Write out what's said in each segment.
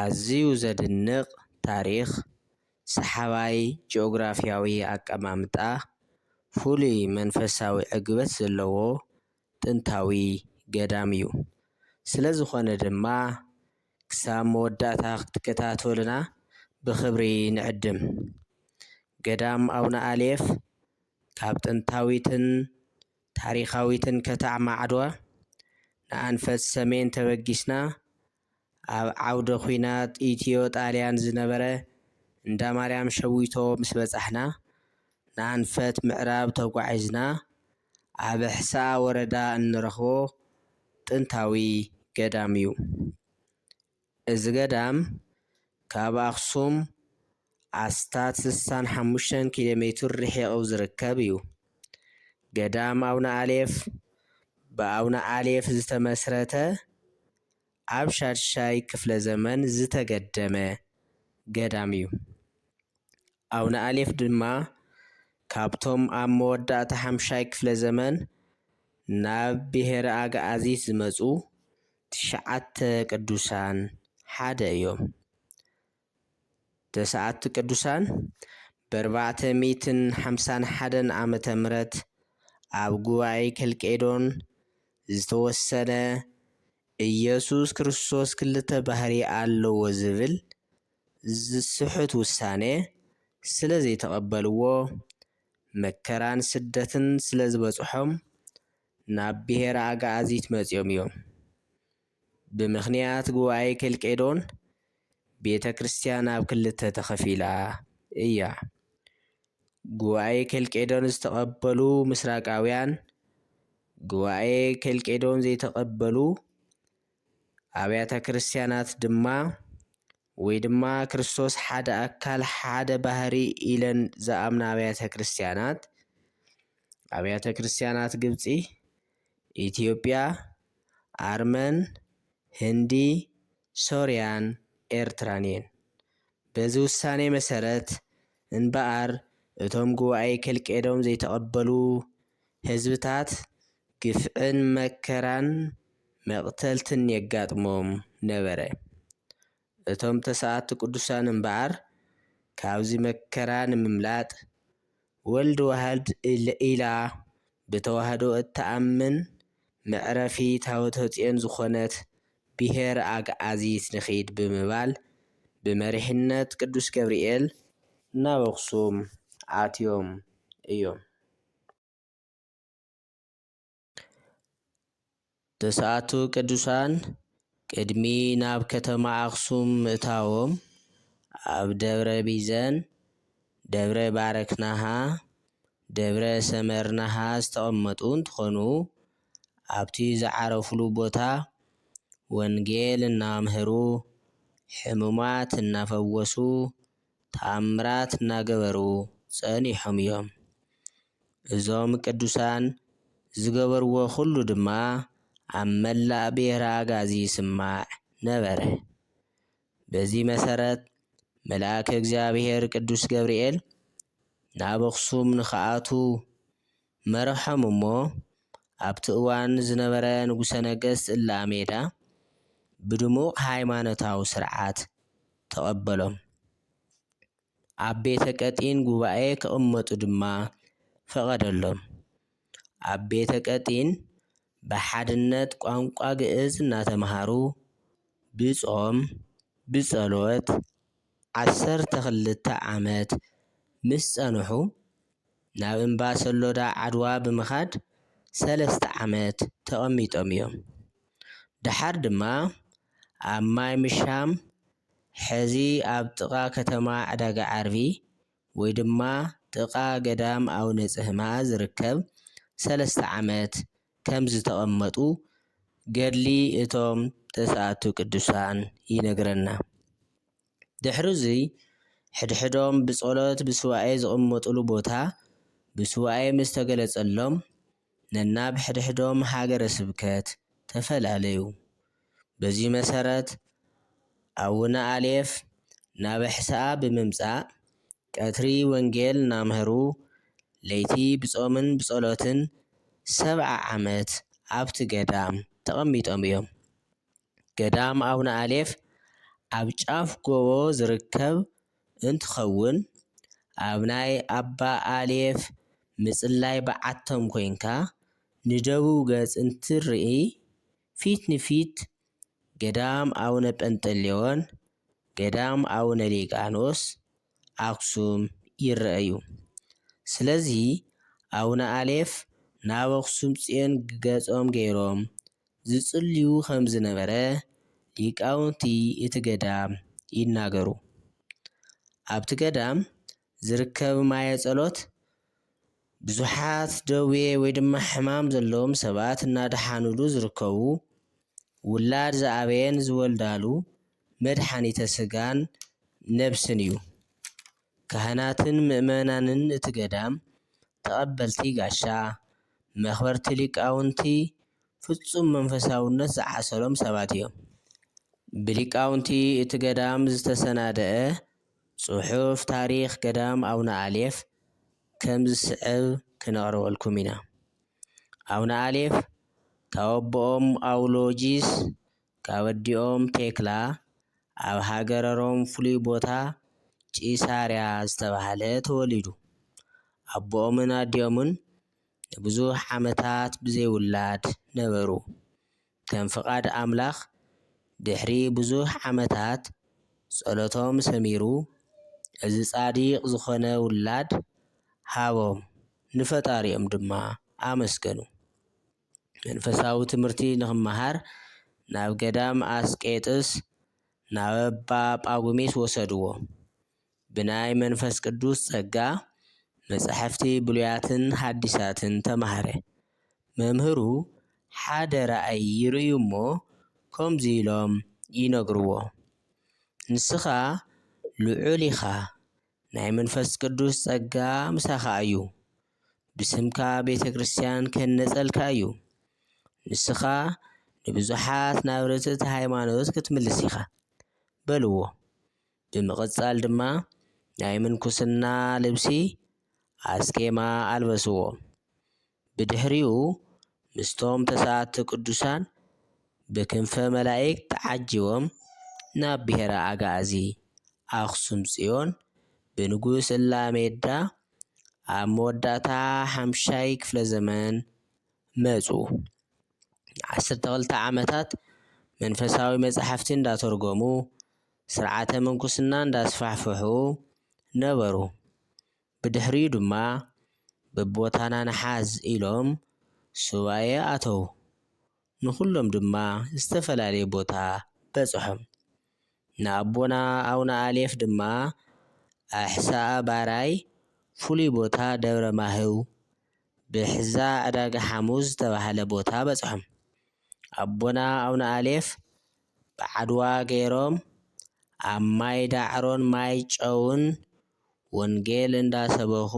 ኣዝዩ ዘድንቕ ታሪኽ፣ ሰሓባይ ጂኦግራፍያዊ ኣቀማምጣ፣ ፍሉይ መንፈሳዊ ዕግበት ዘለዎ ጥንታዊ ገዳም እዩ። ስለዝኾነ ድማ ክሳብ መወዳእታ ክትከታተሉና ብኽብሪ ንዕድም። ገዳም ኣቡነ ኣሌፍ ካብ ጥንታዊትን ታሪኻዊትን ከተማ ዓድዋ ንኣንፈት ሰሜን ተበጊስና ኣብ ዓውደ ኲናት ኢትዮ ጣልያን ዝነበረ እንዳ ማርያም ሸዊቶ ምስ በጻሕና፣ ንኣንፈት ምዕራብ ተጓዒዝና ኣብ ኣሕስኣ ወረዳ እንረኽቦ ጥንታዊ ገዳም እዩ። እዚ ገዳም ካብ ኣኽሱም ኣስታት ስሳን ሓሙሽተን ኪሎ ሜቱር ርሒቑ ዝርከብ እዩ። ገዳም ኣውነ ኣሌፍ ብኣውነ ኣሌፍ ዝተመስረተ ኣብ ሻድሻይ ክፍለ ዘመን ዝተገደመ ገዳም እዩ። ኣውነ ኣሌፍ ድማ ካብቶም ኣብ መወዳእታ ሓምሻይ ክፍለ ዘመን ናብ ብሄረ ኣግኣዚት ዝመጹ ትሽዓተ ቅዱሳን ሓደ እዮም። ተስዓቱ ቅዱሳን በርባዕተ ሚእትን ሓምሳን ሓደን ዓመተ ምረት ኣብ ጉባኤ ከልቄዶን ዝተወሰነ ኢየሱስ ክርስቶስ ክልተ ባህሪ ኣለዎ ዝብል ዝስሕት ውሳኔ ስለ ዘይተቐበልዎ መከራን ስደትን ስለ ዝበጽሖም ናብ ብሔረ ኣግኣዚት መጺኦም እዮም። ብምኽንያት ጉባኤ ኬልቄዶን ቤተ ክርስቲያን ኣብ ክልተ ተኸፊላ እያ። ጉባኤ ኬልቄዶን ዝተቐበሉ ምስራቃውያን፣ ጉባኤ ኬልቄዶን ዘይተቐበሉ ኣብያተ ክርስቲያናት ድማ ወይ ድማ ክርስቶስ ሓደ ኣካል ሓደ ባህሪ ኢለን ዝኣምና ኣብያተ ክርስቲያናት ኣብያተ ክርስቲያናት ግብፂ ኢትዮጵያ፣ ኣርመን፣ ህንዲ፣ ሶርያን ኤርትራን'የን። በዚ ውሳኔ መሰረት እንበኣር እቶም ጉባኤ ኬልቄዶን ዘይተቐበሉ ህዝብታት ግፍዕን መከራን መቕተልትን የጋጥሞም ነበረ። እቶም ተሰኣቲ ቅዱሳን እምበኣር ካብዚ መከራ ንምምላጥ ወልድ ዋህድ ኢላ ብተዋህዶ እትኣምን መዕረፊ ታቦተጽዮን ዝኾነት ብሄር ኣግኣዚት ንኺድ ብምባል ብመሪሕነት ቅዱስ ገብርኤል ናብ ኣኽሱም ኣትዮም እዮም። ትስዓቱ ቅዱሳን ቅድሚ ናብ ከተማ ኣኽሱም ምእታዎም ኣብ ደብረ ቢዘን፣ ደብረ ባረክናሃ፣ ደብረ ሰመርናሃ ዝተቐመጡ እንትኾኑ ኣብቲ ዝዓረፍሉ ቦታ ወንጌል እናኣምሀሩ፣ ሕሙማት እናፈወሱ፣ ተኣምራት እናገበሩ ጸኒሖም እዮም። እዞም ቅዱሳን ዝገበርዎ ኩሉ ድማ ኣብ መላእ ብሄረ ኣግኣዚ ይስማዕ ነበረ። በዚ መሰረት መልኣከ እግዚኣብሔር ቅዱስ ገብርኤል ናብ ኣኽሱም ንክኣትው መረሖም እሞ ኣብቲ እዋን ዝነበረ ንጉሠ ነገሥት እልኣሜዳ ብድሙቕ ሃይማኖታዊ ሥርዓት ተቐበሎም። ኣብ ቤተ ቀጢን ጉባኤ ክቕመጡ ድማ ፈቐደሎም። ኣብ ቤተ ቀጢን ብሓድነት ቋንቋ ግእዝ እናተምሃሩ ብጾም፣ ብጸሎት፣ ዓሰርተ ክልተ ዓመት ምስ ጸንሑ፣ ናብ እምባ ሰሎዳ ዓድዋ ብምኻድ ሰለስተ ዓመት ተቐሚጦም እዮም። ደሓር ድማ ኣብ ማይ ምሻም፣ ሕዚ ኣብ ጥቓ ከተማ ዕዳጋ ዓርቢ ወይ ድማ ጥቓ ገዳም ኣውነ ጽህማ ዝርከብ ሰለስተ ዓመት ከም ዝተቐመጡ ገድሊ እቶም ተስኣቱ ቅዱሳን ይነግረና። ድሕሩዙይ ሕድሕዶም ብጸሎት ብሱባኤ ዝቕመጡሉ ቦታ ብሱባኤ ምስ ተገለጸሎም ነናብ ሕድሕዶም ሃገረ ስብከት ተፈላለዩ። በዙይ መሰረት ኣውነ ኣሌፍ ናብ ኣሕስኣ ብምምጻእ ቀትሪ ወንጌል እናምህሩ፣ ለይቲ ብጾምን ብጸሎትን ሰብዓ ዓመት ኣብቲ ገዳም ተቐሚጦም እዮም። ገዳም ኣቡነ ኣሌፍ ኣብ ጫፍ ጎቦ ዝርከብ እንትኸውን፣ ኣብ ናይ ኣባ ኣሌፍ ምጽላይ በዓቶም ኮይንካ ንደቡብ ገጽ እንትትርኢ፣ ፊት ንፊት ገዳም ኣቡነ ጰንጠሌዎን ገዳም ኣቡነ ሊቃኖስ ኣክሱም ይረኣዩ። ስለዚ ኣቡነ ኣሌፍ ናብ ኣክሱም ፅዮን ገፆም ገይሮም ዝፅልዩ ከምዝነበረ ሊቃውንቲ እቲ ገዳም ይናገሩ። ኣብቲ ገዳም ዝርከብ ማየ ጸሎት ብዙሓት ደዌ ወይ ድማ ሕማም ዘለዎም ሰባት እናደሓኑሉ ዝርከቡ ውላድ ዝኣበየን ዝወልዳሉ መድሓኒተ ስጋን ነብስን እዩ። ካህናትን ምእመናንን እቲ ገዳም ተቐበልቲ ጋሻ፣ መኽበርቲ ሊቃውንቲ ፍጹም መንፈሳውነት ዝዓሰሎም ሰባት እዮም። ብሊቃውንቲ እቲ ገዳም ዝተሰናደኣ ጽሑፍ ታሪኽ ገዳም ኣቡነ ኣሌፍ ከም ዝስዕብ ክነቕርበልኩም ኢና። ኣቡነ ኣሌፍ ካብ ኣቦኦም ኣውሎጂስ ካብ ኣዲኦም ቴክላ ኣብ ሃገረ ሮም ፍሉይ ቦታ ቂሳርያ ዝተባህለ ተወሊዱ። ኣቦኦምን ኣዲኦምን ንብዙሕ ዓመታት ብዘይ ውላድ ነበሩ። ከም ፍቓድ ኣምላኽ ድሕሪ ብዙሕ ዓመታት ጸሎቶም ሰሚሩ እዚ ጻዲቅ ዝኾነ ውላድ ሃቦም ንፈጣሪኦም ድማ ኣመስገኑ። መንፈሳዊ ትምህርቲ ንኽመሃር ናብ ገዳም ኣስቄጥስ ናበባ ጳጉሚስ ወሰድዎ። ብናይ መንፈስ ቅዱስ ጸጋ መጻሕፍቲ ብሉያትን ሓዲሳትን ተማህረ። መምህሩ ሓደ ራእይ ይርእዩ እሞ ከምዚ ኢሎም ይነግርዎ፣ ንስኻ ልዑል ኢኻ፣ ናይ መንፈስ ቅዱስ ጸጋ ምሳኻ እዩ፣ ብስምካ ቤተ ክርስቲያን ክህነጸልካ እዩ፣ ንስኻ ንብዙሓት ናብ ርትእቲ ሃይማኖት ክትምልስ ኢኻ፣ በልዎ። ብምቕጻል ድማ ናይ ምንኩስና ልብሲ፣ ኣስኬማ፣ ኣልበስዎ። ብድሕሪኡ ምስቶም ተሰኣቲ ቅዱሳን ብክንፈ መላኢክት ተዓጂቦም ናብ ብሔረ ኣግኣዚ፣ ኣክሱም ጽዮን፣ ብንጉስ እላሜዳ ኣብ መወዳእታ ሓምሻይ ክፍለ ዘመን መጹ። ንዓሰርተ ክልተ ዓመታት መንፈሳዊ መጻሕፍቲ እንዳተርጎሙ፣ ስርዓተ ምንኩስና እንዳስፋሕፍሑ ነበሩ። ብድሕሪኡ ድማ በብቦታና ንሓዝ ኢሎም ሱባኤ ኣተዉ። ንኹሎም ድማ ዝተፈላለየ ቦታ በጽሖም። ንኣቦና ኣውነ ኣሌፍ ድማ ኣሕሳኣ ባራይ ፍሉይ ቦታ ደብረ ማህው ብሕዛ ዕዳጋ ሓሙስ ዝተባህለ ቦታ በጽሖም። ኣቦና ኣውነ ኣሌፍ ብዓድዋ ገይሮም ኣብ ማይ ዳዕሮን ማይ ጨውን ወንጌል እንዳሰበኹ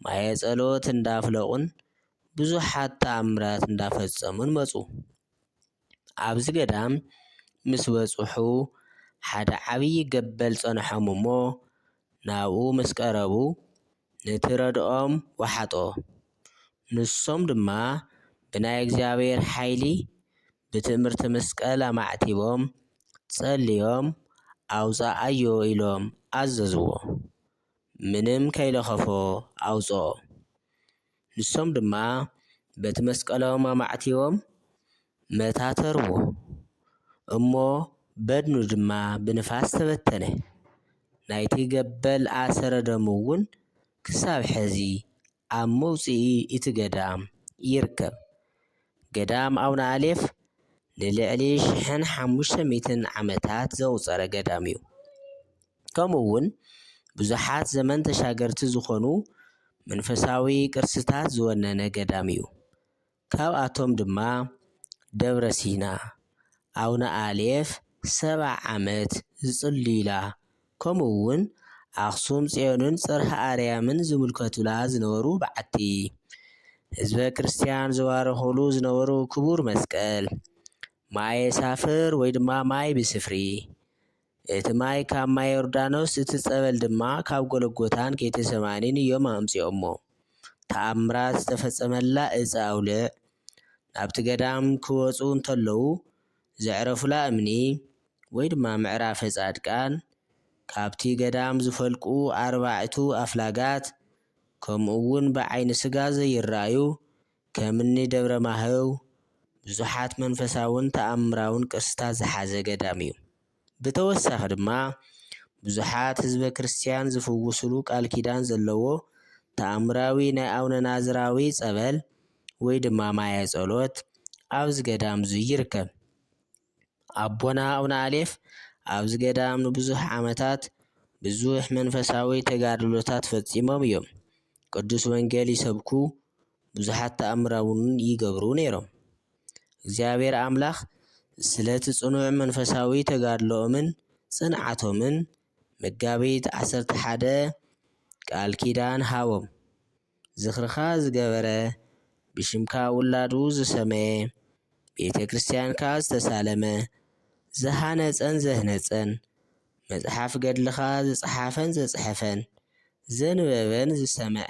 ማየ ጸሎት እንዳፍለቑን ብዙሓት ተኣምራት እንዳፈጸሙን መጹ። ኣብዚ ገዳም ምስ በጽሑ ሓደ ዓብዪ ገበል ጸንሖም እሞ ናብኡ ምስ ቀረቡ፣ ነቲ ረድኦም ወሓጦ፣ ንሶም ድማ ብናይ እግዚኣብሔር ሓይሊ ብትእምርቲ መስቀል ኣማዕቲቦም ጸልዮም ኣውጻኣዮ ኢሎም ኣዘዝዎ ምንም ከይለኸፎ ኣውጽኦ። ንሶም ድማ በቲ መስቀሎም ኣማዕቲቦም መታተርዎ እሞ በድኑ ድማ ብንፋስ ተበተነ። ናይቲ ገበል ኣሰረ ደሙ'ውን ክሳብ ሕዚ ኣብ መውጽኢ እቲ ገዳም ይርከብ። ገዳም ኣቡነኣሌፍ ንልዕሊ ሽሕን ሓሙሽተ ሚእትን ዓመታት ዘቑጸረ ገዳም'ዩ። ከምኡውን ብዙሓት ዘመን ተሻገርቲ ዝኾኑ መንፈሳዊ ቅርስታት ዝወነነ ገዳም እዩ። ካብኣቶም ድማ ደብረ ሲና፣ ኣውነ ኣሌፍ ሰብዓ ዓመት ዝጽልዩላ ከምኡውን ኣኽሱም ጽዮንን ጽርሃ ኣርያምን ዝምልከቱላ ዝነበሩ በዓቲ፣ ህዝበ ክርስቲያን ዝባረኹሉ ዝነበሩ ክቡር መስቀል፣ ማየ ሳፍር ወይ ድማ ማይ ብስፍሪ፣ እቲ ማይ ካብ ማይ ዮርዳኖስ እቲ ጸበል ድማ ካብ ጎለጎታን ጌቴሰማኒን እዮም ኣምጺኦሞ። ተኣምራት ዝተፈጸመላ እፀ ኣውሊዕ ናብቲ ገዳም ክወጹ እንተለዉ ዘዕረፉላ እምኒ ወይ ድማ ምዕራፈ ጻድቃን ካብቲ ገዳም ዝፈልቁ ኣርባዕቱ ኣፍላጋት ከምኡ እውን ብዓይኒ ስጋ ዘይረኣዩ ከም እኒ ደብረ ማህው ብዙሓት መንፈሳውን ተኣምራውን ቅርስታት ዝሓዘ ገዳም እዩ። ብተወሳኺ ድማ ብዙሓት ህዝበ ክርስትያን ዝፍውስሉ ቃል ኪዳን ዘለዎ ተኣምራዊ ናይ ኣውነ ናዝራዊ ፀበል ወይ ድማ ማየ ፀሎት ኣብዚ ገዳም እዙይ ይርከብ። ኣቦና ኣቡነ ኣሌፍ ኣብዚ ገዳም ንብዙሕ ዓመታት ብዙሕ መንፈሳዊ ተጋድሎታት ፈጺሞም እዮም። ቅዱስ ወንጌል ይሰብኩ፣ ብዙሓት ተኣምራ እውን ይገብሩ ነይሮም። እግዚኣብሔር ኣምላኽ ስለቲ ጽኑዕ መንፈሳዊ ተጋድሎኦምን ጽንዓቶምን መጋቢት ዓሰርተ ሓደ ቃል ኪዳን ሃቦም። ዝኽርኻ ዝገበረ፣ ብሽምካ ውላዱ ዝሰመየ፣ ቤተ ክርስቲያንካ ዝተሳለመ፣ ዝሃነጸን ዘህነጸን፣ መጽሓፍ ገድልኻ ዝጸሓፈን ዘጽሐፈን፣ ዘንበበን ዝሰምዐን፣